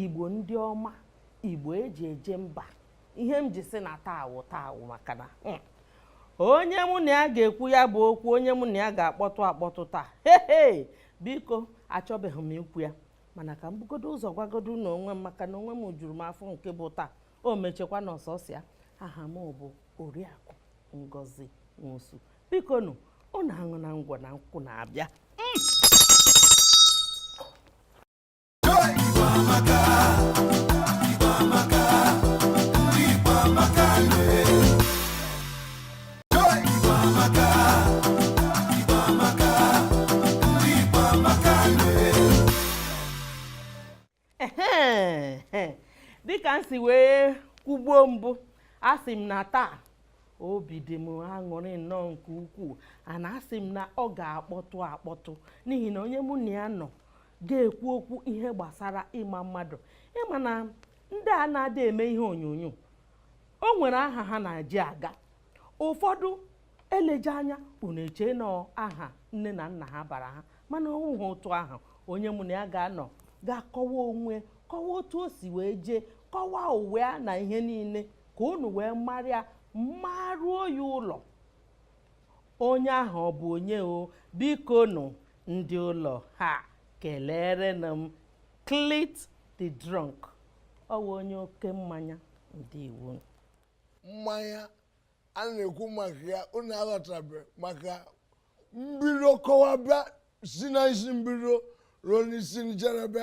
Igbo ndị ọma, Igbo eji eje mba. Ihe m ji sị na taa wụ taa wụ maka na hmm, onye mụ na ya ga-ekwu ya bụ okwu onye mụ na ya ga-akpọtụ akpọtụ taa hehe biko achọbeghị m ikwu ya mana ka m bugodo ụzọ gwagodo unu onwe m maka na onwe m juru m afọ nke bụ taa o mechekwa na ọsọsịa aha m bụ oriakụ ngozi nwosu bikonụ ọ na-aṅụ na ngwọ na nkwụ na-abịa hmm. dịka m si wee kwugbuo mbụ asị m na taa obi dị m aṅụrị nnọọ nke ukwuu ana asị m na ọ ga-akpọtụ akpọtụ n'ihi na onye mụ na ya nọ ga-ekwu okwu ihe gbasara ịma mmadụ ị ma na ndị a na-adị eme ihe onyonyo o nwere aha ha na-eji aga ụfọdụ eleghị anya unu eche na ọ aha nne na nna ha bara ha mana ọ wụghị otu ahụ onye mụ na ya ga-anọ ga-akọwa onwe ya kọwaa otu o si wee jee kọwaa ụwa ya na ihe niile ka unu wee mara ya maruo ya ụlọ onye ahụ ọ bụ onye o bikonụ ndị ụlọ ha kelerenụ m Clint the drunk ọ wụ onye oke mmanya ndị iwu mmanya a na-ekwu maka ya unu aghọtabe maka mbido kọwaba si na isi mbido ruo n'isi njedebe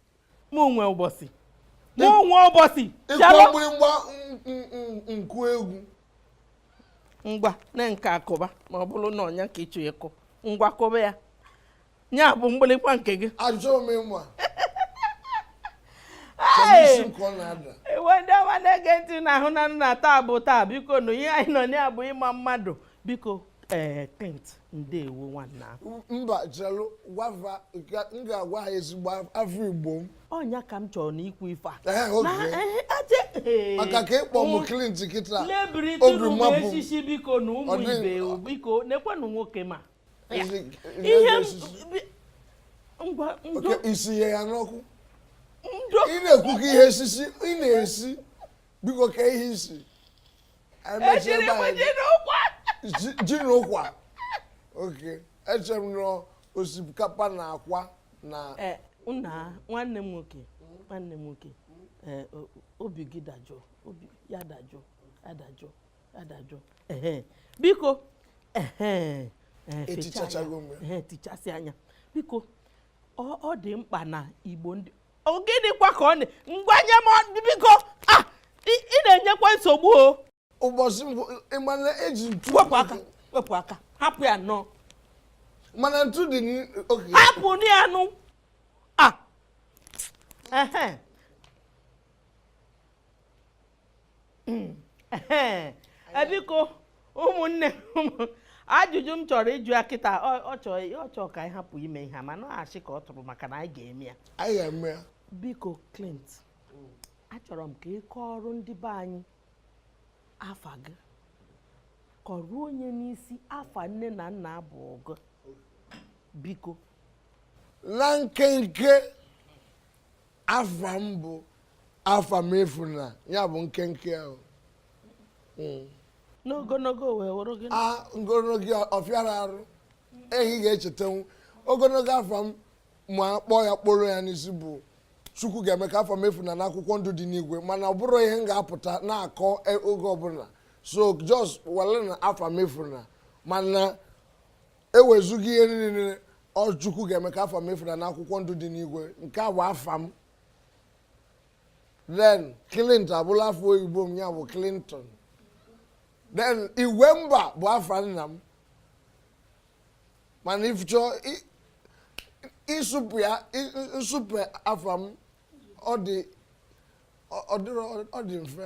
mụ nwe ụbọchị mụ nwe ụbọchị ịkwa mgbịrịgba nkụ egwu ngwa na nke akụba ma ọ bụrụ na ọ nya ka ị chọ ịkụ ngwa kụba ya ya bụ mgbịrịgba nke gị ajụọ m ịma ewe ndị ọma na-ege ntị na ahụnanụ na taa bụ taa bikonụ ihe anyị nọ ya bụ ịma mmadụ biko ee eh, Clint ndewo nwanna mba chelụ gwava m ga-agwa ha ezigbo afa igbo m ọ nya ka m chọrọ na ikwu ife a eh, maka ka ị kpọ m mm. Clint kịta obi mmapụ echichi bikonụ ụmụ ibe biko nekwenụ nwoke ọma ihe ngwanụ isi ihe ya n'ọkụ ị na-ekwu ka ihe esisi ị na-esi biko kee ihe i si esiri m ji na ụkwa ji na ụkwa okay eche m na ọ osikapa na akwa na eh, nna nwanne m nwoke nwanne m nwoke eh, obi gị dajụọ obi ya dajụọ adajụọ adajụọ biko eh, etichachago m tichasị anya biko ọ dị mkpa na igbo ndị Ọ gịnịkwa ka ọ na ngwa nye m ọ- biko ah ị ị na-enyekwa nsogbu o ụbọchị mbụ ị ma na eji ntu wepụ aka wepụ aka hapụ ya nụ mana ntu dị n'oge hapụnụ ya nụ ah ehe biko ụmụnne ajụjụ m chọrọ ịjụ ya kịta ọ chọọ ka anyị hapụ ime ihe mana ọ asị ka ọ tụrụ maka na anyị ga-eme ya anyị ga-eme ya biko Clint achọrọ m ka ị kọọrọ ndị be anyị afa gị kọrọ onye n'isi afa nne na nna abụ ọgụ biko na nkenke afa m bụ Afamefuna ya bụ nkenke ahụ hmm. n'ogologo wee wụrụ gị a ogologo ọ fịara arụ eh ị ga-echetanwu ogologo afa m ma kpọọ ya kpọrọ ya n'isi bụ chukwu ga-eme ka afa m efuna n'akwụkwọ ndụ dị n'igwe mana ọ bụrụ ihe m ga-apụta na-akọ e, oge ọbụla so just were na Afamefuna mana e wezụga ihe niile ọ Chukwu ga-eme ka afa m efuna n'akwụkwọ ndụ dị n'igwe nke a bụ afa m then clinton abụrụ afa oyibo m ya bụ clinton then Igwemba bụ afa nna m mana ị chọọ ịsụpụ ya nsụpụ afa m ọ dịrọ mfe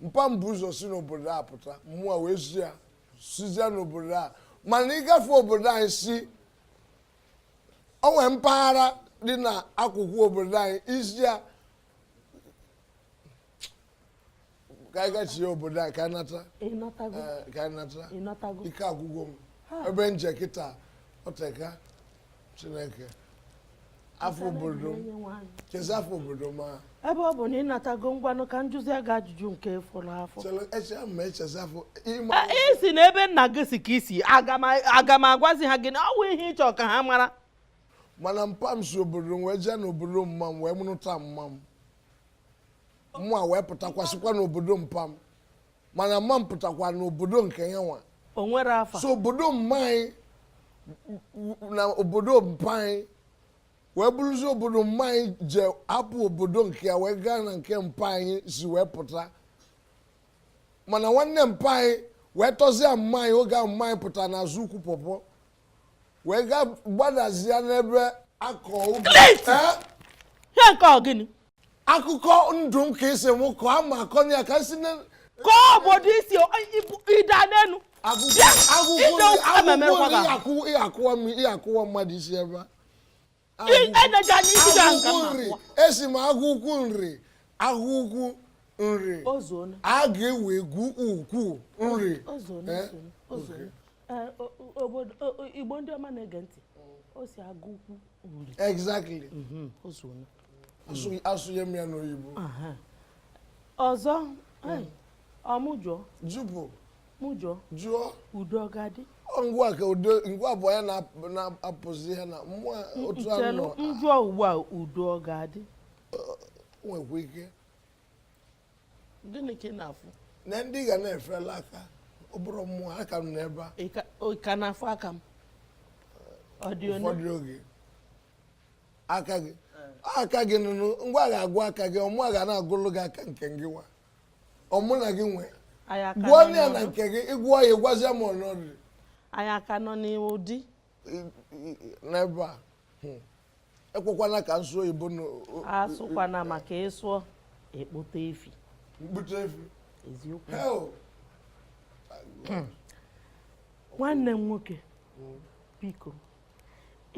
mpa m bu ụzọ si n'obodo a pụta mụ a wee si ya sizie n'obodo a mana ị gafee obodo anyị si o nwee mpaghara dị na akụkụ obodo anyị i si ya ka anyị gachie obodo anyị ka anyị nata ị natago eh, ka anyị nata ị natago ike agwụgo m Ha. ebe m je kịta ọ teka chineke afa obodo chezi afa obodo ma ebe ọ bụ na ị natago ngwanụ ka m jụzie gị ajụjụ nke efu na afọ isi na ebe nna gị si ka i si aga m agwazi ha gị na ọ bụ ihe ị chọ ka ha mara mana mpa m si obodo wee jee n'obodo mma m wee nụrụta mma m mụ a wee pụtakwasịkwa n'obodo mpa m mana mma m pụtakwa n'obodo nke yanwa o nwere afa so obodo mma anyị na obodo mpa anyị wee bụrụzi obodo mma anyị je hapụ obodo nke ya wee gaa na nke mpa anyị si wee pụta mana nwanne mpa anyị wee tọzie mma anyị oge ahụ mma anyị pụtara n'azụ ukwu pọpọ wee gaa gbadazie n'ebe a kọ ubi Clint! Eh? ihe nke ọ gịnị akụkọ ndụ m ka ị sị mụ kọọ ama akọnye ya ka si kọọ obodo i si ị da n'elu bịakwa ụwa mmadụ i si ebee esi m agụ ukwu nri agụ ukwu nri a ga-ewe egwu ukwu nri eh? Eh, igbo ndị ọma na-ege ntị o si agụ ukwu nri exactly mhm, asụnye m ya n'oyibo ọzọ hmm. ọ mụ jụọ jụpụ mụ jụọ jụọ udo ọ ga-adị ngwa ka udo ngwa bụ ya na-apụzi ihe na mmụọ otu anụ njụọ ugbu a udo ọ ga-adị nwekwa ike gịnị ka ị na-afụ na ndị ga na-efela aka ọ bụrọ mụwa aka m n'ebe a ị ka na-afụ aka m ụfọdụ oge aka gị aka gị nụnụ ngwa agha agwụ aka gị ọ mụ ga na-agụlụ gị aka nke gịnwa ọ mụ na gị nwee gụọ ya na nke gị ị gụọ ya ị gwazia m ọnọdụ anyị ka nọ na iwu dị n'ebe a hmm. ekwekwana ka m sụọ oyibo asụkwana maka ị sụọ i kpute efi m kpute efi eziokwu nwanne m nwoke hmm. biko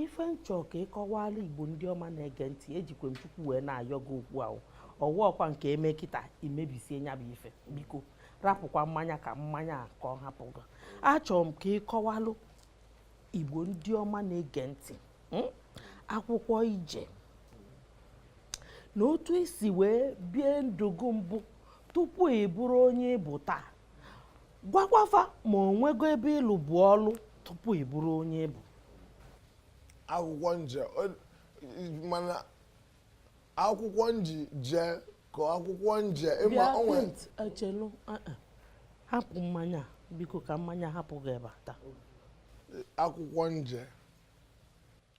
ife m chọ ka ị kọwalụ igbo ndị ọma na-ege ntị ejikwe m chukwu wee na-ayọ gị okwu ahụ ọ wụ ọkwa nke i me kịta i mebisie nya bụ ife biko rapụkwa mmanya ka mmanya a ka ọ hapụ gị achọrọ m ka ị kọwalụ igbo ndị ọma na-ege ntị hmm? akwụkwọ i je na otu i si wee bie ndụ gị mbụ tupu ị bụrụ onye ị bụ taa gwakwa fa ma o nwego ebe ị lụbu ọlụ tupu ị bụrụ onye ị bụ akwụkwọ m je mana akwụkwọ m ji jee ka akwụkwọ m je ị ma onwe echelu eh, eh. hapụ mmanya biko ka mmanya hapụ gị ebe a taa akwụkwọ m je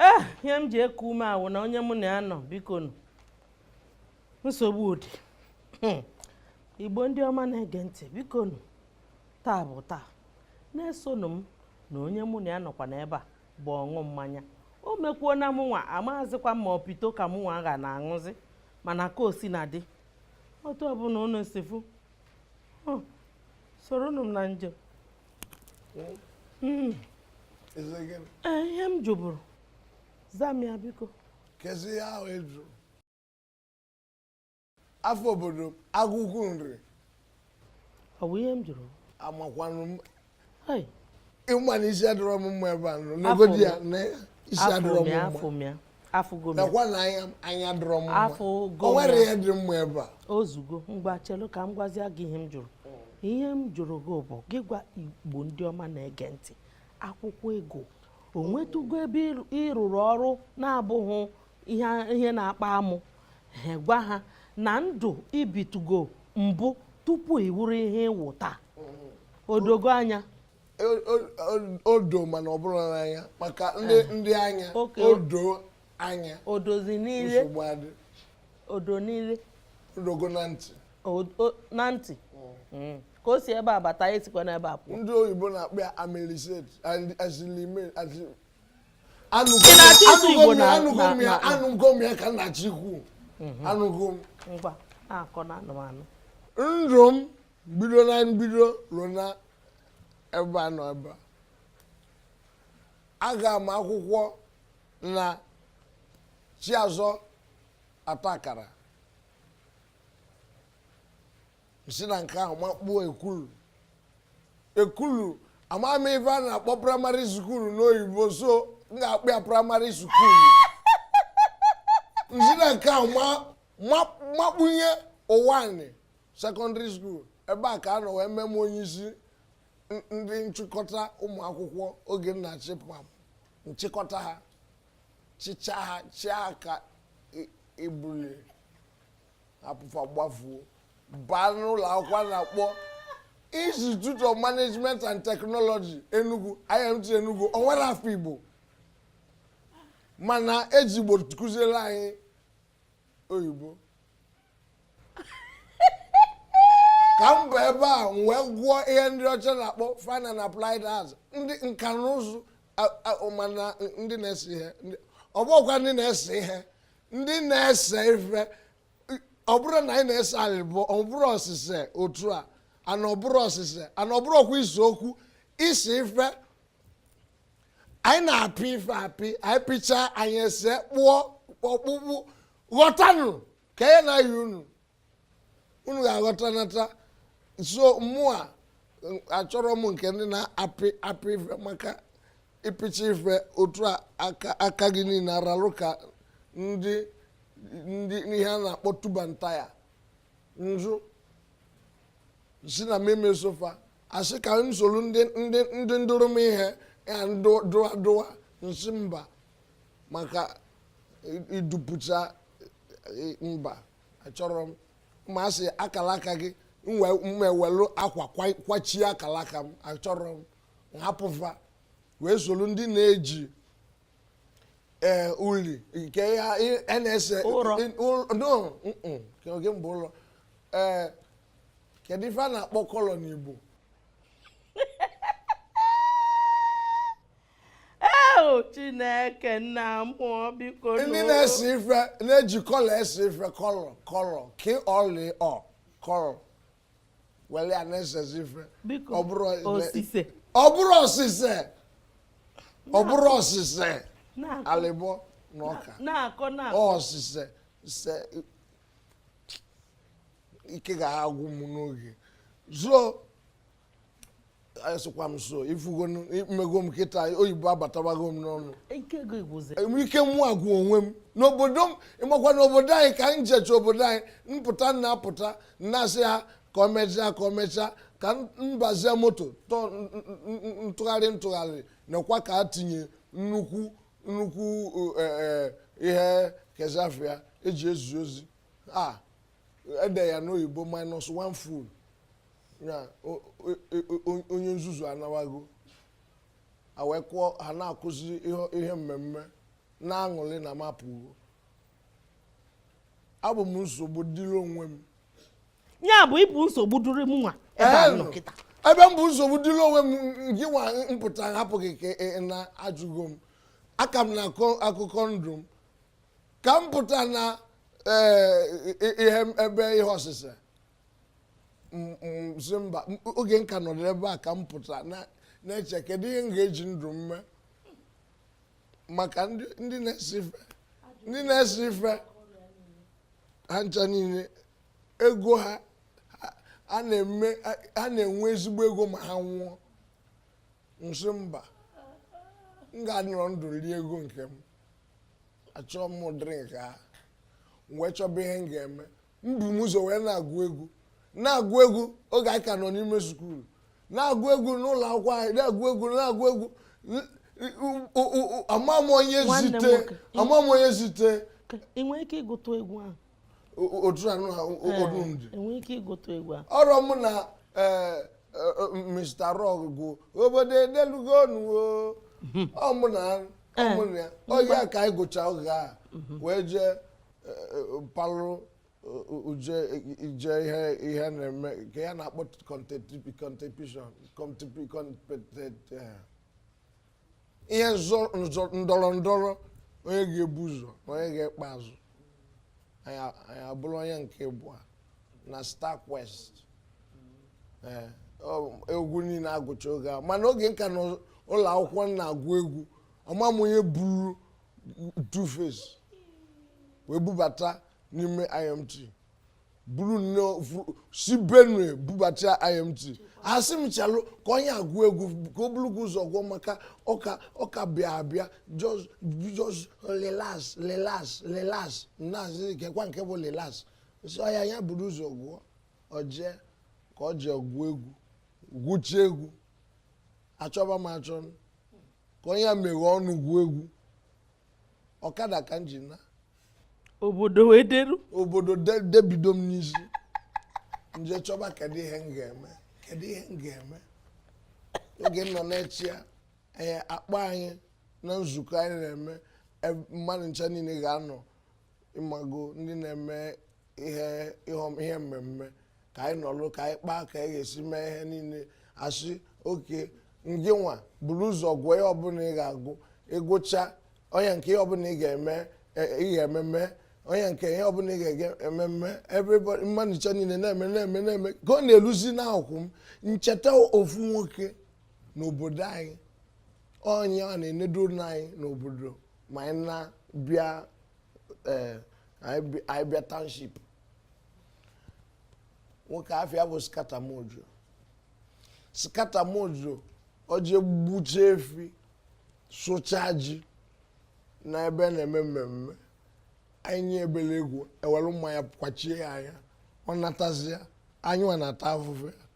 ee ihe m ji eku ume a wụ na onye mụ na ya nọ bikonụ nsogbu ọ dị hmm. igbo ndị ọma na-ege ntị bikonụ taa bụ taa na-esonụ m na onye mụ na ya nọkwa n'ebe a bụ ọṅụ mmanya o mekwuo na mụnwa amaghazikwa ma ọ pito ka mụnwa ga na-aṅụzi mana ka o sina dị otu ọbụna unu si fụ soronụ m na njem hmm. eh, ihe m jụburu zaa m ya biko kezi ihe ahụ ị jụ afa obodo agụ ukwu nri ọ bụ ihe m jụrụ amakwanụ m ịma na isi adịrọ m mma ebe a nọ negodi ya na isi adịrọ m mma nakwa na anya adịrọ m mma o nwere ihe dị mma ebe a ozugo ngwa chelu ka m gwazie gị ihe m jụrụ ihe m jụrụ gị bụ gị gwa igbo ndị ọma na-ege ntị akwụkwọ ị gụ o nwetụgo ebe ị rụrụ ọrụ na-abụghị ihe na-akpa amụ ha gwa ha na ndụ i bitugo mbụ tupu ị wụrụ ihe ị wụ taa o dogo anya odo mana ọ bụrụ n'anya maka ndị eh. ndị anya odo anya odozi niile odo niile o dogo na ntị na ntị mm. Mm. ka o si ebe a bata o sikwa n'ebe a pụọ ndị oyibo na-akpọ ya amnesia alzheimer anụgo m ya ka nna chikwu anụgo m mhm. ngwa akọ na anụmanụ ndụ m bido na mbido ruo na ebe a nọ ebe a aga m akwụkwọ na chiazọ ọta akara m si na nke ahụ makpuo ekulu ekulu ama m ife a na-akpọ primary school n'igbo so m ga-akpọ ya primary school m si na nke ahụ ma- ma- makpunye uwani secondary school ebe a ka a nọ wee mee m onye isi ndị nchịkọta ụmụ akwụkwọ oge m na-achị fa m chịkọta ha chịchaa ha chịa ka ibuli hapụ fa gbafuo baa n'ụlọ akwụkwọ na-akpọ institute of management and technology enugu imt enugu o nwerọ afa igbo mana e ji igbo kụziere anyị oyibo ka m ba ebe a m wee gụọ ihe ndị ọcha na-akpọ fine na applied arts ndị nka na ụzụ mana ndị na-ese ihe ọ bụkwa ndị na-ese ihe ndị na-ese ife ọ bụrọ na anyị na-ese anyị bụ ọ bụrọ osise otu a and ọ bụrọ osise and ọ bụrọ ọkwa ise okwu ise ife anyị na-apị ife apị anyị pịchaa anyị ese kpụọ ọkpụkpụ ghọtanụ ka ya na ya unu unu ga-aghọta nata so mụwa achọrọ m nke ndị na-apị apị ife maka ịpịcha ife otu a aka gị niile aralụ ka ndị ndị ihe a na-akpọ tuba nta ya nzu si na meme sofa a sị ka m soro ndị ndị ndị dụrụ m ihe ya dụwa dụwa m sị mba maka idupụcha mba achọrọ m ma a sị akala aka gị m wee welu akwa kwachie akala aka m achọrọ m hapụ fa wee soro ndị na-eji ee eh, uli nke ha a na-ese ụrọ oge mgbe ụlọ ee eh, kedu ife a na-akpọ kọlọ n'Igbo eo chineke nna m oo biko ndị na-ese ife na-eji kọlọ ese ife kọlọ kọlọ ka ọlị ọ kọlọ wele ya na-esezi ife ọ bụrụ osise ọ bụrụ osise ọ bụrụ osise alịbọ na ọka osise se ike ga-agwụ m n'oge soon asịkwa m soon ị fụgo emego m kịta oyibo abatabago m n'ọnụ ike mụ agwụ onwe m n'obodo m ịmakwa n'obodo anyị ka m jecha obodo anyị m pụta m na-apụta na-asị ha ka ọ mechaa ka ọ mechaa ka m bazie moto m tụgharịa m tụgharịa nakwa ka a tinye nnukwu nnukwu e, e, ihe kezi afa ya e ji ezi ozi e dee ya n'oyibo minus one fool ya o- o- o- o- onye nzuzu anawago ha wee kụọ ha na-akụzi ihe- ihe mmemme na-aṅụrị na m apụgo abụ m nsogbu dịrị onwe m ya bụ ị bụ nsogbu dịrị mụ nwa ebe a Ee, nọ kịta ebe m bụ nsogbu dịrị onwe m gị nwa m pụta hapụ gị ka ị na-ajụgo m aka m na-akọ akụkọ ndụ m ka m pụta na ee, i- i- ihe m- ebe ihe osise sị mba oge m ka nọrọ ebe a ka m pụtara na-eche kedu ihe m ga-eji ndụ m mee maka ndị na-ese ife ndị na-ese ife ha ncha niile ego ha ha na-enwe ezigbo ego ma ha nwụọ m sị mba m ga-anọrọ ndụ rie ego nke m achọọ m drink m wee chọba ihe m ga-eme ebu m ụzọ wee na-agụ egwu na-agụ egwu oge anyị ka nọ n'ime skuul na-agụ egwu n'ụlọ akwụkwọ anyị na-agụ egwu na-agụ egwu ama m onye zite ama m onye zite ị nwere ike ịgụtụ egwu ahụ otu anụ ha odumdi e nwere ike ịgụtụ egwu ahụ ọ bụrụ mụ na e, e, e, Mr. Raw gụ obodo edelugo nụ o ọ mụ na ọ mụ na ya oge a ka anyị gụcha oge a wee jee palụ uje ije ihe ihe na-eme ka ya na-akpọ competition ihe ndọrọ ndọrọ onye ga-ebu ụzọ na onye ga-ekpe azụ anyị abụrụ onye nke abụọ na star quest egwu niile agụcha oge a mana oge m ka nọ ụlọ akwụkwọ na-agụ egwu ama m onye buru two face wee bubata n'ime imt buru ya si benue bubata imt asị m chelụ ka onye a gụọ egwu ka o buru gị ụzọ gụọ maka ọ ka ọ ka bịa abịa just relax relax relax m asị kekwa nke bụ relax sị oya ya buru ụzọ gụọ o jee ka o jee gụọ egwu gụcha egwu achọba m achọ ka onye a meghe ọnụ gụọ egwu ọkada ka m ji na obodo wee deru obodo debido m n'isi m je chọba kedu ihe m ga-eme kedu ihe m ga-eme oge m nọ na-eche ya ee a kpọọ anyị na nzukọ anyị na-eme e, mmadụ ncha niile ga-anọ ịmago ndị na-eme ihe ihe mmemme ka anyị nọlụ ka anyị kpaa ka anyị ga-esi mee ihe niile a sị okay ngị nwa buru ụzọ gụọ ihe ọbụla ị ga-agụ ị gụcha onye nke ihe ọbụla ị ga-eme e, ị ga-ememe onye nke ihe ọbụla ị ga-eme ememme everybody mmadụ ncha niile na-eme na-eme na-eme ka ọ na-eluzi n'ụkwụ m m cheta ofu nwoke n'obodo anyị onye a na-enedoro anyị n'obodo ma anyị na-abịa eh, anyị bi- anyị bịa township nwoke afa ya bụ skatamojo skatamojo o je gbucha efi sụcha ji na ebe a na-eme mmemme anyị nye ebele egwu e were mmanya kwachie ya anya ọ natazịa anyị nwa na-ata afụfụ ya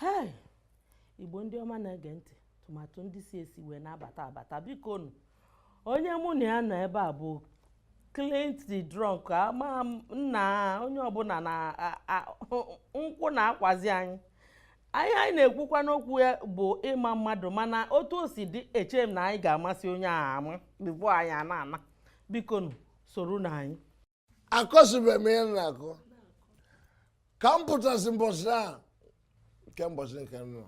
hei igbo ndị ọma na-ege ntị tụmatụ ndị si esi wee na-abata abata bikonụ onye mụ na ya nọ ebe a bụ Clint the drunk ama m na onye ọbụla na a- a- nkwụ na-akwazi anyị anyị anyị na-ekwukwa n'okwu ya bụ ịma mmadụ mana otu o si dị eche m na anyị ga-amasị onye ahụ ama before anyị a na-ana bikonụ soronụ anyị akọsịbeghị m ihe m na-akọ ka m pụtasị mbọsị a nke mbọsị nke m nọ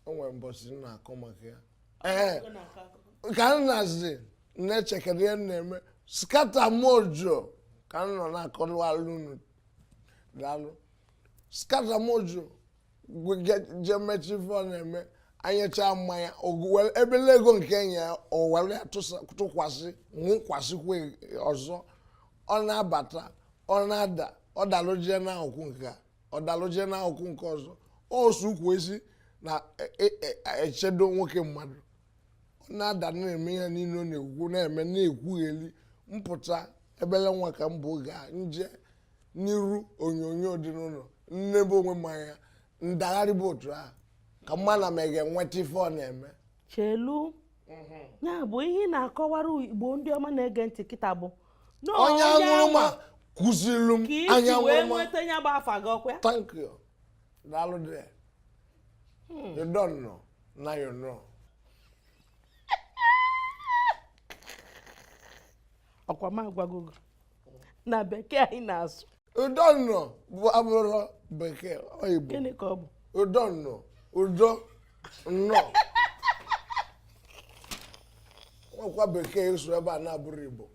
o nwere mbọsị m na-akọ maka ya ee ka m nọzị na-eche kedu ihe m na-eme skata mojo ka m nọ na-akọwalụ unu daalụ skata mojo je mechaa ife ọ na-eme a nyecha mmanya obele ego nke e nye ya o were ya tụkwasị ṅụkwasịkwa ọzọ ọ na-abata ọ na-ada ọ dalụ jee n'akụkụ nke a ọ dalụ jee n'akụkụ nke ọzọ osu ukwu esi na e, e, e, echedo nwoke mmadụ ọ na-ada na-eme ihe niile ọ na-ekwu na-eme na-ekwugheli m pụta obele nwa ka m bụ oge a m jee n'iru onyonyo dị n'ụlọ m nebe onwe m anya m dagharịba otu ahụ ka m ma na m ga-enweta ife ọ na-eme chelu ya bụ ihe ị na-akọwara igbo ndị ọma na-ege ntị kịta bụ na onye aṅụrụma kụzilu m ka anya isi wee aṅụrụma nweta ya bụ afa gị ọkwa ya? thank you daalụ dị you don't know na you know ọkwa m agwago gị na bekee anyị na-asụ you don't know bụ abụrọ bekee oyibo gịnị ka ọ bụ you don't know you don't know nwekwa bekee ị sụ ebe a na-abụrọ igbo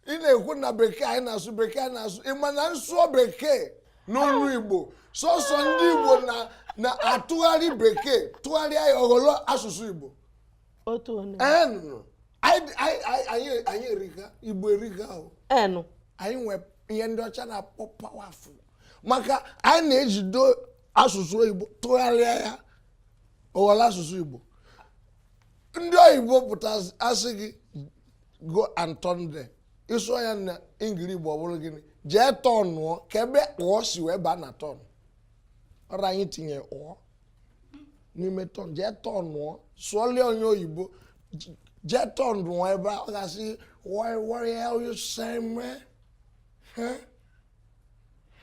ị na-ekwu na bekee anyị na-asụ bekee anyị na-asụ ị ma na m sụọ bekee n'olu igbo sọsọ ndị igbo na- na-atụgharị bekee tụgharịa ya ọ ghọlọ asụsụ igbo otu onye enụ anyị anyị- anyị- anyị erika igbo erika o enụ anyị nwee ihe ndị ọcha na-akpọ powerful maka anyị na-ejido asụsụ oyibo tụgharịa ya ọ ghọlọ asụsụ igbo ndị oyibo pụta sị gị go and turn there ị sụọ ya na ingili igbo ọ bụrụ gịnị jee tọnụọ kee ebe ụọ si wee baa na turn ọrụ anyị tinye ụọ n'ime turn jee tọnụọ sụọlụ onye oyibo jee tọnụọ ebe a ọ ga-asị why why hell you say me huh?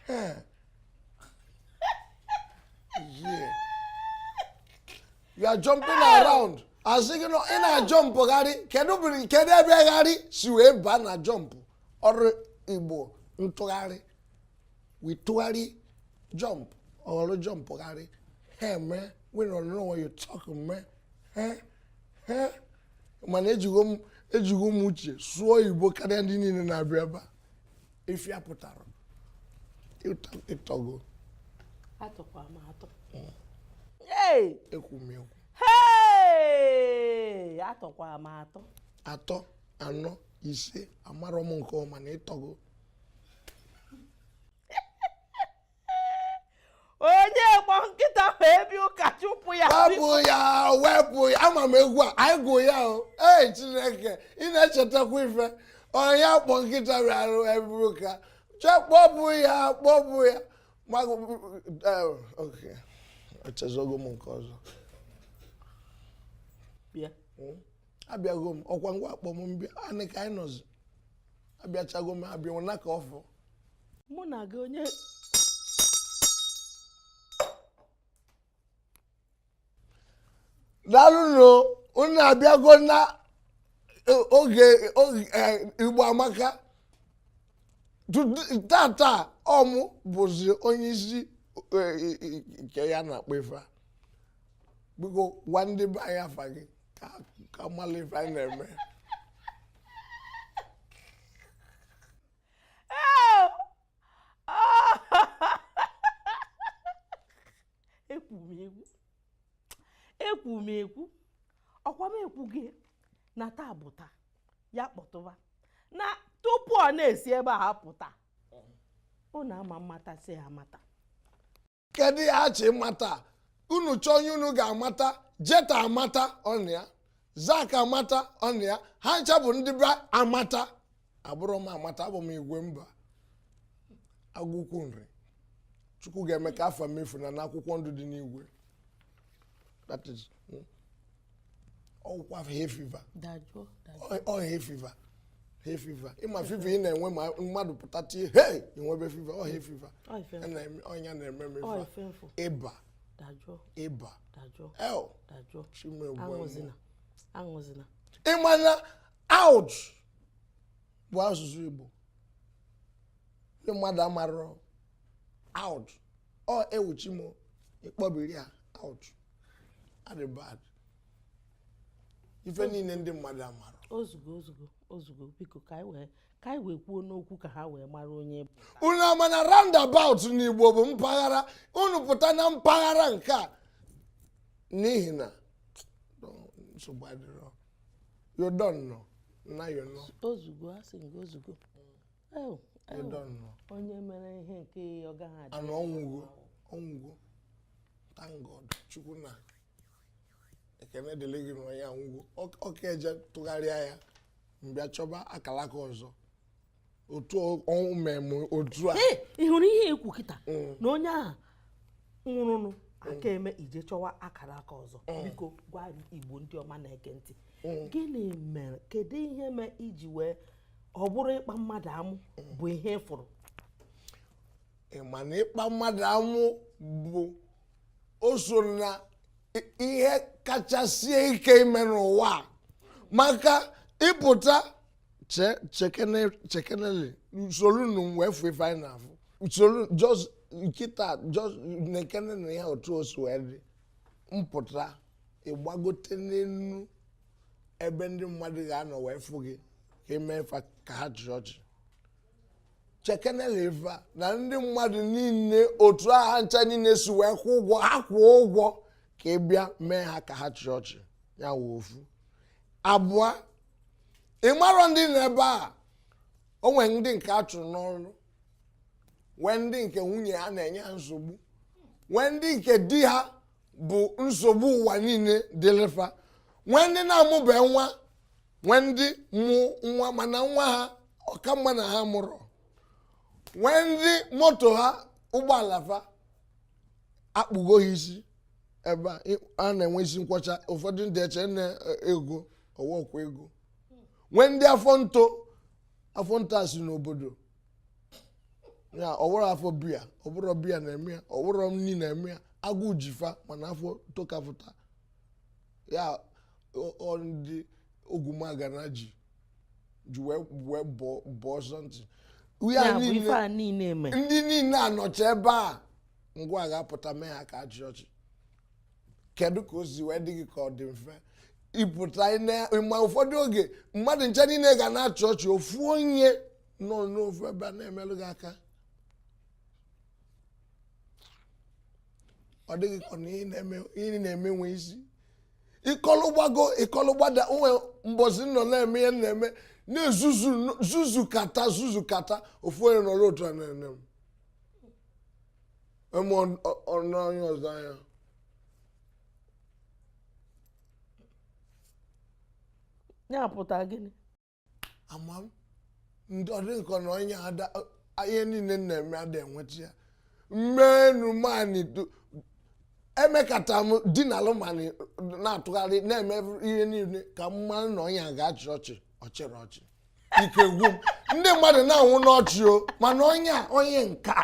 Huh? yeah. you are jumping around a sị gị na ị na-ajọmpụgharị kedu bụrụ kedu ebe gharị si wee baa na jump ọrụ igbo ntụgharị wee tụgharị jump ọ ghọrọ jump gharị ha eme we don't know what you talk eme ha ha mana ejigo m ejigo m uche sụọ igbo karịa ndị niile na-abịa ebe a ife a pụtara ị tọgo atọkwa m atọ ekwu m ekwu atọkwa m atọ atọ anọ ise amara m nke ọma na ị tọgo onye kpọ nkịta bịa ebe ụka chụpụ ya wepụ ya wepụ ya ama m egwu a anyị gụ ya o ee chineke ị na-echetakwa ife onye kpọ nkịta bịaru ebe ụka kpọpụ ya kpọpụ ya echezogo m nke ọzọ hmm? abịago m ọkwa ngwa a kpọọ m m bịa anị ka anyị nọzi abịachago m abịa nwụna ka ọfụ mụ na gị onye daalụnụ unu abịago na e, oge oge, eh, igbo amaka Tut- tata ọ mụ bụzi onye isi eh, eh, eh, nke ya na-akpọ ife a biko gwa ndị be anyị afa gị ka m malị ife anyị na-eme ekwu m ekwu ọkwa m ekwu gị na taa bụ taa ya kpọtụba na tupu a na-esi ebe a pụta unu ama mmata si ya amata kedu ya achị mata unu chọọ onye unu ga-amata jeta amata ọ nọ ya zack amata ọ nọ ya ha ncha bụ ndị be amata abụrọ m amata abụ m igwe mba agụkwu nri chukwu ga-eme ka afa m efuna n'akwụkwọ ndụ dị n'igwe that is hmm. ọ wụkwa hay fever ọ hay fever hay fever ị ma fever ị na-enwe ma mmadụ pụta tie hey i nwebe fever ọ hay fever ọ nya na-eme m ịba ịba el chimegbe ị ma na out bụ asụsụ Igbo ndị mmadụ amarọ out ọ ewuchi m ịkpọbiri ya out adị bad ife niile ndị mmadụ amara ozugbo ozugbo ozugbo biko ka anyị wee kwuo n'okwu ka ha wee mara onye bụ unu ama na roundabout n'igbo bụ mpaghara unu pụta na mpaghara nke a n'ihi na nsogbu adịrọ yodon nọ na yonọ ozugbo a sị gị ozugbo onye mere ihe nke ọ gaghị adị anụ ọ nwụgo ọ nwụgo thank God chukwu nna ekene dịrị gị na ya anwụgo ọ ka eje tụgharịa ya m bịa chọba akalaka ọzọ otu ọnwụ mmemme otu a ị hụrụ ihe i kwu kịta mm. na onye ahụ nwụrụnụ aka eme i je chọwa akara aka ọzọ eh. biko gwa igbo ndị ọma na-ege ntị eh. gịnị mere kedu ihe mere i ji wee ọ bụrụ ịkpa mmadụ amụ eh. bụ ihe fụrụ ị ma na ịkpa mmadụ amụ bụ o so na ihe kacha sie ike ime n'ụwa a maka ịpụta che chekene chekenele usoro nu wee fụ ife anyị na-afụ usoro just nkịta just chekene na ya otu o si wee dị mpụta ịgbagote n'elu ebe ndị mmadụ ga-anọ wee fụ gị ka i me ife ka ha chịrị ọchị chekenele ife a na ndị mmadụ niile otu ha ncha niile si wee kwụ ụgwọ ha kwụọ ụgwọ ka ị bịa mee ha ka ha chịrị ọchị ya wụ ofu abụọ ị marọ ndị nọ ebe a o nwere ndị nke a chụrụ n'ọrụ nwee ndị nke nwunye ha na-enye ha nsogbu nwee ndị nke di ha bụ nsogbu ụwa niile dịlị fa nwee ndị na-amụbe nwa nwee ndị mụ nwa mana nwa ha ọ ka mma na ha amụrọ nwee ndị moto ha ụgbọala fa akpụgo ha isi ebe a na-enwe isi nkwọcha ụfọdụ ndị eche na ego ọ wụ okwu ego nwee ndị afọ nto afọ nto a si n'obodo ya ọ wụrụ afọ biya ọ bụrụ biya na-eme ya ọ wụrụ nri na-eme ya agụụ ji fa mana afọ tokapụta ya ndị ogumagana ji ji wee bụọ something ndị niile a nọcha ebe a ngwa ga-apụta mee ha ka a chịa ọchị kedu ka o si wee dị gị ka ọ dị mfe ịpụta ma ụfọdụ oge mmadụ ncha niile ga na-achị ọchị ofu onye nọ n'ofu ebe a na-emelụ gị aka ọ dịghị ka na ihe na-eme nwe isi ị kọlụ gbago ị kọlụ gbada o nwe mbọsị m nọ na-eme ihe m na-eme na-ezuzu kata zuzu kata ofu onye nọrọ otu a na-ene m eme ọnụ onye ọzọ anya ya pụta gịnị ama m ndị ọ dị m ka ọ na onye ada ihe niile m na-eme ada enweta ya mmenu mani emekata m dinalụ n'anị na-atụgharị na-eme ihe niile ka m mara na onye a ga-achị ọchị ọ chịrọ ọchị ike gwụ m ndị mmadụ na-anwụ n'ọchị o mana onye a onye nke a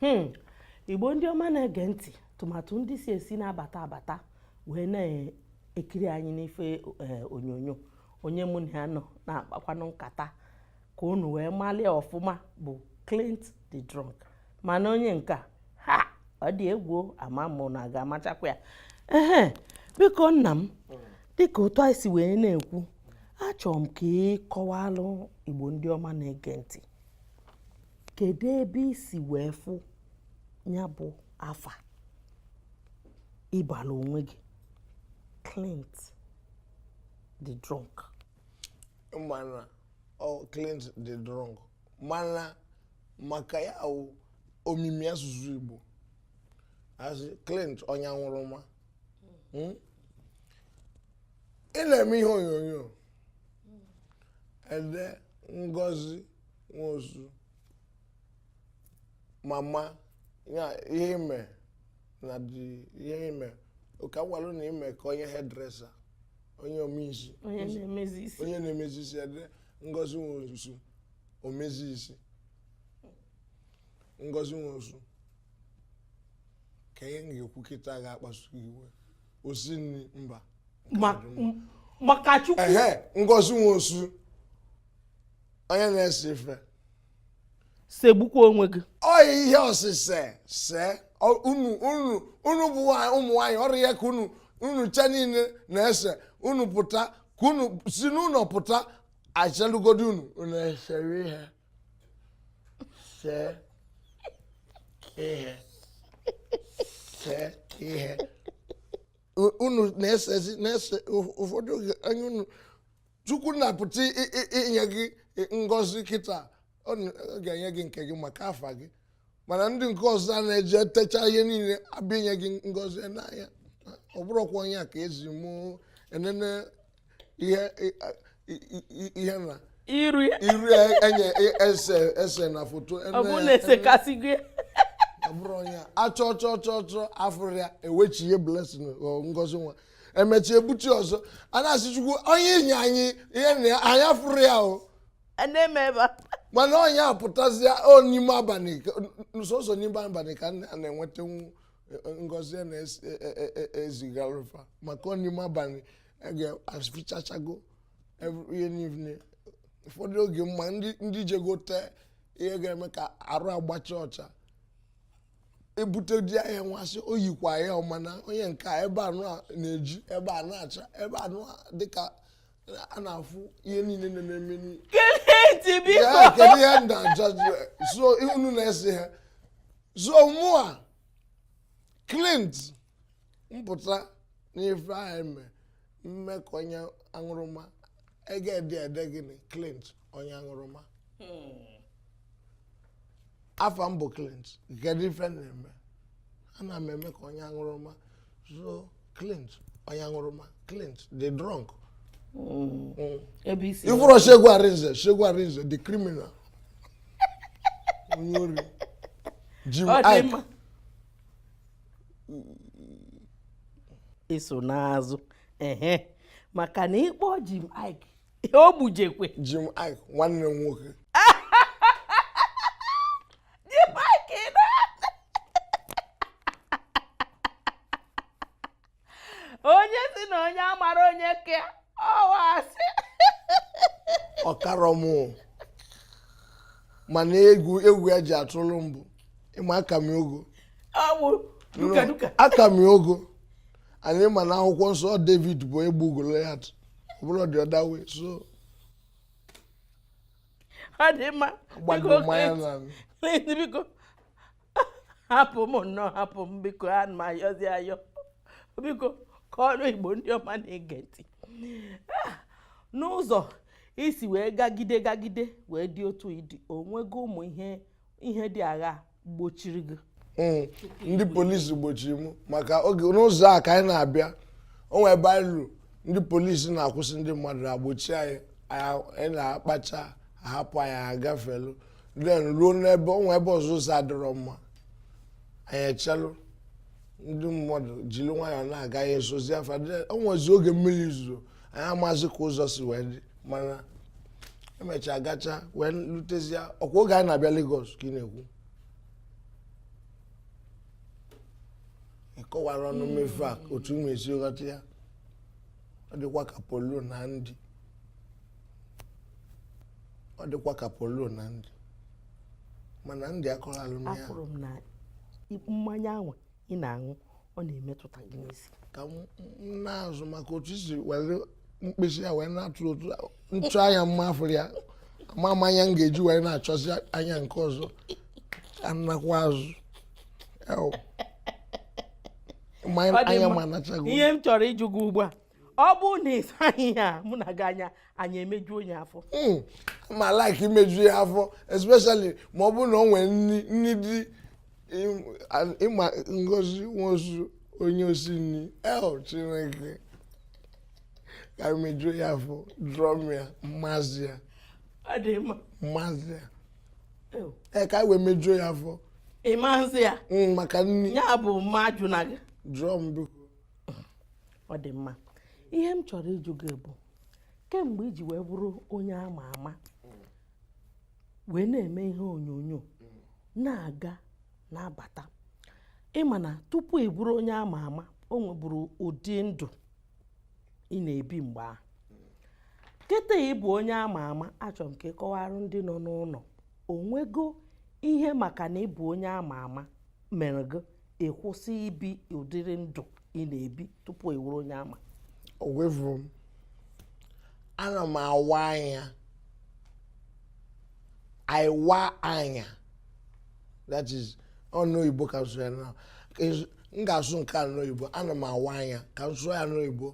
hmm. igbo ndị ọma na-ege ntị tụmatụ ndị si esi na-abata abata wee na-ekiri anyị n'ife eh, onyonyo onye mụ na ya nọ na-akpakwanụ nkata ka unu wee malụ ya ọfụma bụ Clint the drunk mana onye nka ha ọ dị egwu ama mụ na a ga-amachakwa ya ehe biko nna m dịka otu anyị si wee na-ekwu achọrọ m ka ị kọwalụ Igbo ndị ọma na-ege ntị kedu ebe i si wee fụ ya bụ afa ị balụ onwe gị Clint the drunk mana ọ Clint the drunk mana maka ya wụ omimi asụsụ Igbo a sị Clint onye aṅụrụma hmm? ị na-eme ihe onyonyo e dee Ngozi Nwosu mama ya ihe ime na dị ihe ime ụka gwalụ na ime ka onye hairdresser onye ome isi onye na-emezi isi onye na-emezi isi e dee ngozi nwosu omezi isi ngozi nwosu kee ihe m ga-ekwu kịta ga-akpasu iwe osi nri mba Ma- m- maka chukwu ehe ngozi nwosu onye na-ese ife segbukwa onwe gị ọ ihe osise se unu unu unu bụ ụmụ nwaanyị ọ urie ka unu unu cha niile na-ese unu pụta ka unu si n'ụlọ pụta aselugodi unu unu esere ihe see ihe see ihe unu na-esezi na-ese ụfọdụ oge anya unu chukwu na-apụta i- i- inye gị ngozi kịta ọ na- ọ ga-enye gị nke gị maka afa gị mana ndị nke ọzọ a na-eje techa ihe niile a bịa inye gị ngozi e nee anya ọ bụrọkwa onye a ka e zi mụ enene ihe i- i- i- i- ihe na iru ya iru e- enye e- ese ese na foto ọ bụrụ na esekasị gị ọ bụrọ onye a achọ chọ chọ chọ afụrọ ya ewechihe blessing ọ ngozi nwa emechie ebuchi ọzọ a na-asị chukwu onye i nye anyị ihe na ya- anyị afụrọ ya o A na-eme ebe a. mana onye apụtazi o n'ime abalị ka- sọsọ n'ime abalị ka a na-enwetanwu ngozi a na-ezigaru fa maka ọ n'ime abalị afichachago every- ihe niile ụfọdụ oge ma ndị ndị jego tee ihe ga-eme ka arụ agbacha ọcha ebute di ya ya nwasị o yikwa ya ọma na onye nke a ebe anụ a na-eji ebe a na-acha ebe anụ a dịka a na-afụ ihe niile nọ na-eme n'ihe keleti ya biko kedu ihe m na-aja jụ so unu na-ese ha so mụa clint m pụta n'ife ahụ eme mee ka onye aṅụrụma a ga-ede ede gịnị clint onye aṅụrụma afa m bụ clint kedu ife m na-eme ana m eme ka onye aṅụrụma so clint onye aṅụrụma clint the drunk ebe isi ị fụrọ segun arinze segun arinze the criminal onye ori jim Ọ dị iyke mma. iso n'azụ ehe maka na ị kpọọ Jim Iyke o gbujekwe Jim Iyke nwanne m nwoke onye si na onye amara onye ke ọwa asị ọ karọ m mana egwu egwu ya ji atụrụ m bụ ị ma aka m ya ogo ọwụ duka duka aka m ya ogo and ị ma na akwụkwọ nsọ david bụ egbu goliath ọ bụrụ dị ọda wee so ọ dị mma gbagoro mmanya na biko hapụ m nnọọ hapụ m biko ana m ayọzi ayọ biko kọọrọ igbo ndị ọma na-ege ntị ah, n'ụzọ i si wee gagide gagide wee dị otu ị dị o nwego ụmụ ihe ihe dị aghaa gbochiri gị hmm, ndị polisi gbochiri m maka oge n'ụzọ a ka anyị na-abịa o nwe ebe anyị lulu ndị polisi na-akwụsị ndị mmadụ na-agbochi anyị anyị na ha kpachaa a hapụ anyị agafelu then ruo n'ebe o nwe ebe ọzọ ụzọ adịrọ mma anyị echelu ndị mmadụ jiri nwayọọ na-aga anyị esozie fa o nwezi oge mmiri zoro anyị amazi ka ụzọ si wee dị mana e mechaa gacha wee lutezie ọ kwa oge anyị na-abịa Lagos ka ị na-ekwu kọwara nụ m ife a otu mụ esi ghọta ya ọ dịkwa ka polu na ndị ọ dịkwa ka polo na ndị mana ndị akọrọ alụ na ya afụrụ m na mmanya ahụ ị na-aṅụ ọ na-emetụta gị n'isi ka m m na-azụ maka otu i si were mkpịsị ya wee na-atụ otu a- m chọọ anya m m afụrọ ya ama m anya m ga-eji wee na-achọzi anya nke ọzọ ka m nakwa azụ Ew. Mmanya- Ọ dị anya mma. ma anachago ihe m chọrọ ịjụ gị ugbu a ọ bụ na ịsaghị ihe a mụ na gị anya anyị emejuo onye afọ hmm, ma like imeju ya afọ especially ma ọ bụrụ na ọ nwere nri nri dị ịma ngozi nwosu onye osi nri eh chineke ka m mejuo ya afọ drọm ya mmazi ya mmazi ya ee ka wee mejuo ya afọ ịmazi ya hmm, maka nri ya bụ mmadụ na gị drọm biko ọ dị mma ihe m chọrọ ịjụ gị bụ kemgbe i ji wee bụrụ onye ama ama wee na-eme ihe onyonyo na-aga na-abata ị ma na tupu ị bụrụ onye ama ama o nwebụrụ ụdị ndụ ị na-ebi mgbe ahụ kịta ị bụ onye ama ama achọrọ m ka ị kọwaara ndị nọ n'ụlọ o nwego ihe maka na ị bụ onye ama ama mere gị ịkwụsị ibi ụdịrị ndụ ị na-ebi tupu ị wụrụ onye ama o wevuru m ana m awa anya ịwa anya that is ọnụ oyibo ka a sụrụ ya na m ga-asụ nke a n'oyibo ana m awa anya ka m sụọ ya n'oyibo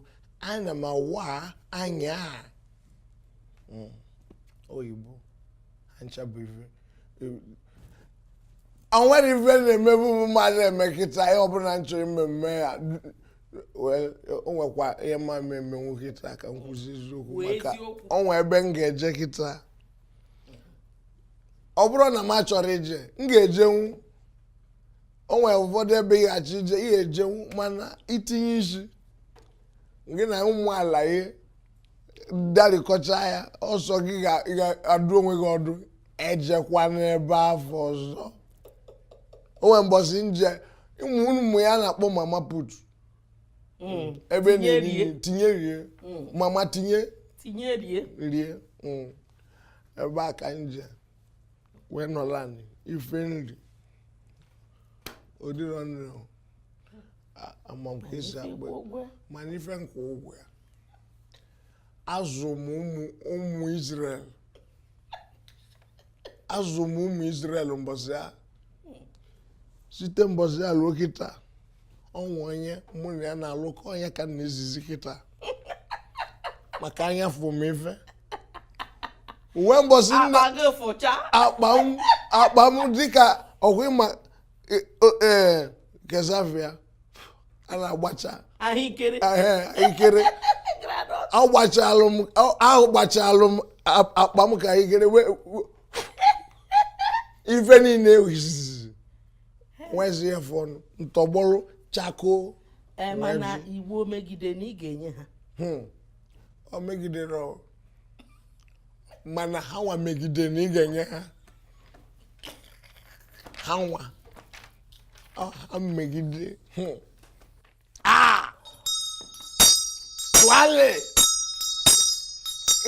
ana m awa anya hmm. oyibo o nwere ife m na-emebu m adị eme kịta ihe ọbụla m chọrọ ime m mee ya o nwekwa ihe m ma emenwu kịta ka m kwuzie eziokwu maka o nwe ebe m ga-eje kịta ọ bụrụ na m achọrọ ije m ga-ejenwu o nwere ụfọdụ ebe ị chọọ ije ị ya-ejenwu mana itinye isi gị na ụmụ alaye darịkọcha ya ọ sọ gị ga-adụ onwe gị ọdụ ejekwana ebe afụ ọzọ o nwere mbọsị m je ụmụ ụmụ ihe a na-akpọ mama put mm. ebe a na-eri tinye rie mm. mama tinye tinye rie rie mm. ebe a ka m je wee nọlụ ana ife m ri ọ dịrọ nri ama m ka e si akpọ mana ife m kwụ ụgwọ ya azụ m ụmụ Israel azụ m ụmụ Israel mbọsị a site mbọsị a ruo kịta o nwe onye mụ na ya na-alụkọ onye ka na-ezizi kịta maka anya fụ m ife uwe mbọsị a akpa m dịka ọ gwụ ịma E- o- ee kezavia a na-agbacha ahụekere ehe, ikere granọt agbachalụ m a- ahụ gbachalụ m a- akpa m ka ikere wee wee- ife niile ewizizi nwezi ya fọnụ tọgbọrọ chakoo ee mana iwu megide na ị ga-enye ha Hmm. ọ megidere ọ. mana ha nwa megide na ị ga-enye ha ha nwa ha megide hụ a tụale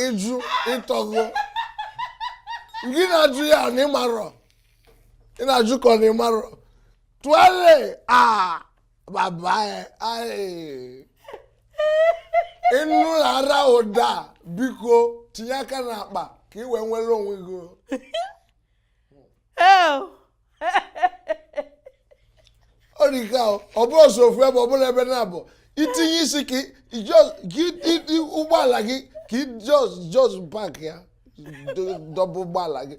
ị jụ ị tọgo gị na-ajụ ya na ị marọ ị na-ajụ ka ọ na ị marọ tụale a baba ya ị nụ ara ụda biko tinye aka n'akpa ka i wee nwere onwe gị ọ dị ka ọ bụrọ sọ ofu ebe ọ bụla ebe na-abụ i tinye isi ụgbọala gị ka ị just park ya dọba ụgbọala gị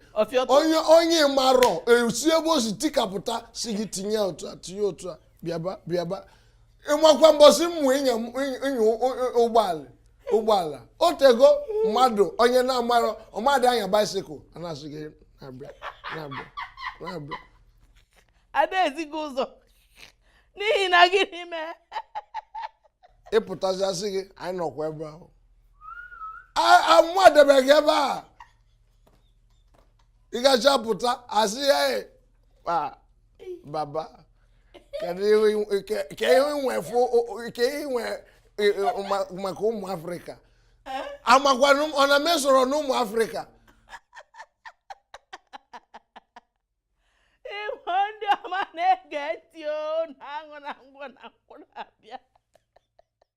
onye ị marọ esi ebe o si tikapụta sị gị tinye otu a tinye otu a bịaba bịaba ị makwa mbọsị m mụ ịnya ụgbọala ụgbọala ọ tego mmadụ onye na-amarọ ọ madị anya baisikụl a na-asị gị na-abịa na-abịa na-abịa ada ezi gị ụzọ n'ihi na gịnị mere ị pụtazi a sị gị anyị nọkwa ebe ahụ amụ adebeghị ebe a ị gacha pụta a sị ya Ah, baba kedu ihe inwe- ke- ke ihe i nwe fụ ke ihe i nwe e, e, ma- maka ụmụ afrịka amakwanụ m- ọ na m soro n'ụmụ afrịka Igbo ndị ọma na-ege ntị o na-aṅụ na ngwọ na nkwụ na bia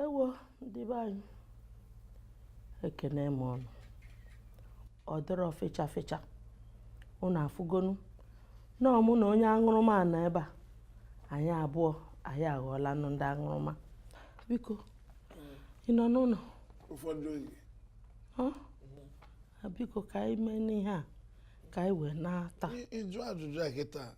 ewo ndị be anyị ekene m unu ọ dịrọ fecha fecha unu afụgonu na ọ mụ na onye aṅụrụma nọ ebe a anyị abụọ anyị aghọọlanụ ndị aṅụrụma biko ị nọ n'ụlọ ụfọdụ oge biko ka anyị meenụ ihe a ka anyị wee nata ịjụ ajụjụ a kịta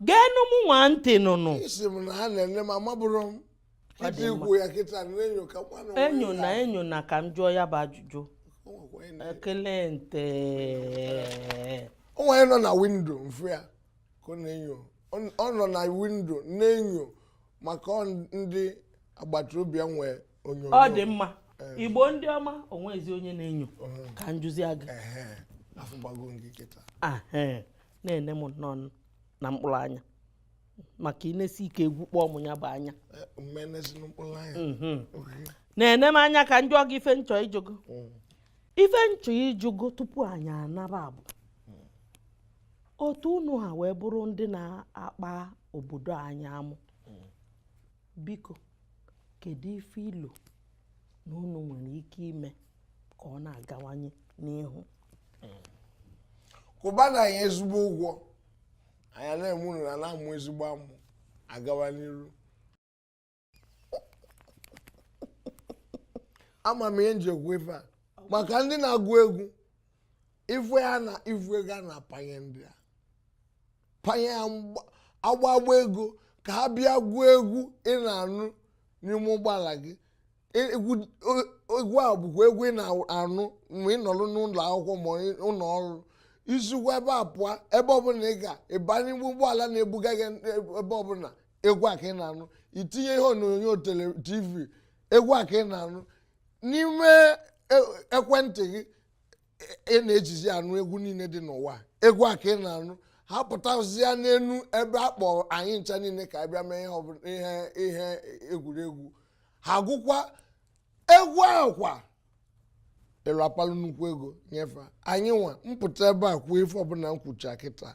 geenụ m nwa ntị nụnụ isi m na ha na-ene m amabụrụ m Ọ dị iji mma. i kwu ya kịta na-enyo ka kwanụ nwa enyo na ya. enyo na ka m jụọ ya bụ ajụjụ O nwekwa onye na- egele ntị o nwere nọ na windo m fụ ya ka ọ na-enyo Ọ- ọ nọ na windo na-enyo maka ọ ndị agbata obi ya nwee ọ dị mma igbo ndị ọma onwezi onye na-enyo ka njụzia gị na-ene m nnọọ na mkpụrụ anya maka inesi ike egwu kpọọ m ya bụ anya mhm. na-ene m anya ka njụọ gị ife nchọ ịjụ gị mm. ife nchọ ịjụ gị tupu anyị anaba bụ otu unu ha wee bụrụ ndị na-akpa obodo anyị amụ Biko, kedu ife i lo na unu nwere ike ime ka ọ na-agawanye n'ihu? Kwụba na anyị ezigbo ụgwọ anyị na-eme unu na na-amụ ezigbo amụ agawa n'iru ama m ihe nji ekwu ife a maka ndị na-agụ egwu ife ha na ife ego a na-apanye ndị a panye ha akpa akpa ego ka ha bịa gụọ egwu ị na-anụ n'ime ụgbọala gị e, egwu a bụkwa egwu ị na-anụ mgbe ị nọrọ n'ụlọ akwụkwọ ma ụlọ ọrụ isikwa ebe a pụọ ebe ọbụla ị ga ịbanye ụgbọ ụgbọala na-ebuga gị ebe ọbụla egwu a ka ị na-anụ itinye ihe onyonyo tv egwu a ka ị na-anụ n'ime e, ekwentị gị ị na-ejizi anụ egwu niile dị n'ụwa egwu a ka ị na-anụ ha pụtazia n'elu ebe a kpọrọ anyị ncha niile ka abịa mee ihe ihe egwuregwu ha gụkwa egwu ahụ kwa ị na-apalụ nnukwu ego nye fa anyị nwa mpụta ebe a kwuo ife ọbụla m kwucha kịta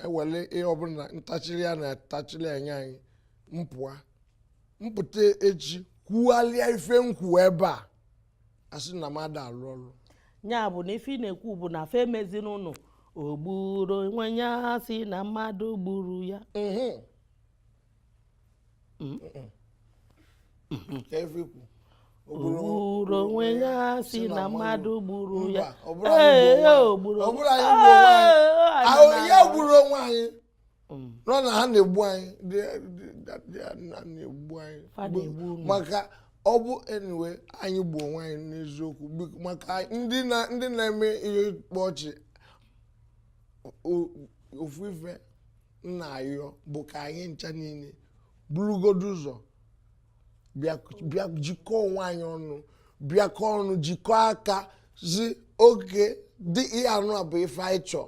ewele ihe ọbụla ntachiri ya na-atachiri anya anyị mpụa mpụta echi kwugharịa ife nkwu ebe a asị na m ada alụ ọrụ ya bụ na ife ị na-ekwu bụ na ife meziri ụnụ o gburu onwe ya asị na mmadụ gburu ya efikwu o gburu onwe ya asị na mmadụ gburu ya ee o gburu onwe anyị ahụ ya gburu onwe anyị nọ na ha na-egbu anyị na-egbu anyị maka ọ bụ onwe anyị gbuo onwe anyị n'eziokwu maka ndị na-eme ihe ịkpa ọchị ofu ife m na-ayọ bụ ka anyị ncha niile burugodu ụzọ bịa jikọọ onwe anyị ọnụ bịakọ ọnụ jikọọ aka sị okay dị ihe anụ a bụ ife anyị chọọ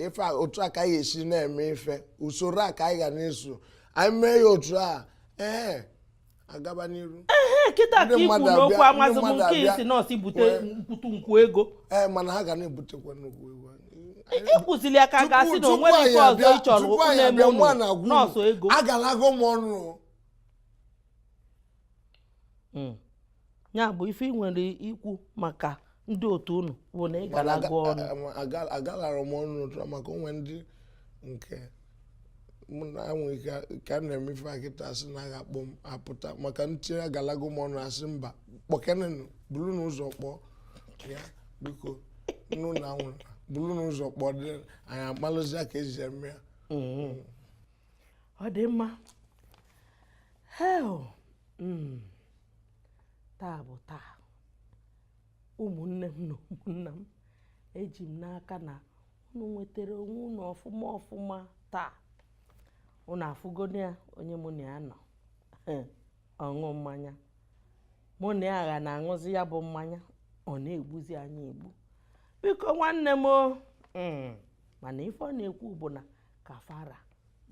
ife otu a ka anyị esi na-eme ife usoro a ka anyị ga na-eso anyị mee ya otu a ee agaba n'iru ee kịta ka ikwu n'okwu amazị m nke ị sị na ọ sọ ibute mkputu nnukwu ego ee mana ha ga na-ebutekwa nnukwu ego ịkwụzili aka ga-asị na onwere nke ọzọ ị chọrọ na-eme ụnụ na ọ sọ ego agalago m ọnụ hmm. ya bụ ife ị nwere ikwu maka ndị otu unu bụ na ị galago ọnụ agalara m ọnụ n'otu maka o nwe ndị nke mụ na enwe ike ka a na-eme ife kịta a sị na a ga-akpọ m apụta maka ntị agalago m ọnụ a sị mba kpọkenenụ burunụ ụzọ kpọọ ya biko unu nwa burunụ ụzọ kpọọ anyị amalụzia ka e si eme ya mm-hmm. ọ dị mma hei mm. taa bụ taa ụmụnne m na ụmụnna m eji m n'aka na unu nwetara onwe unu ọfụma ọfụma taa unu afụgonụ ya onye mụ na ya nọ aṅụ mmanya mụ na ya agha na-aṅụzi ya bụ mmanya ọ na-egbuzi anyị egbu biko nwanne m mm, mana ife ọ na-ekwu bụ na ka fa ra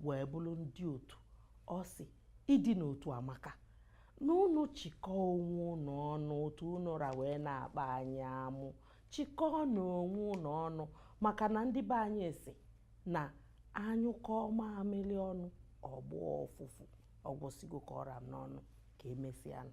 wee bụrụ ndị otu ọ sị ịdị n'otu amaka na unu chịkọọ onwe unu ọnụ otu unu ra wee na-akpa anyị amụ chịkọọnụ onwe unu ọnụ maka na ndị be anyị sị na a nyụkọọ mamịrị ọnụ ọ gbọọ ụfụfụ ọ gwụsịgo ka ọ ra m n'ọnụ ka emesịanụ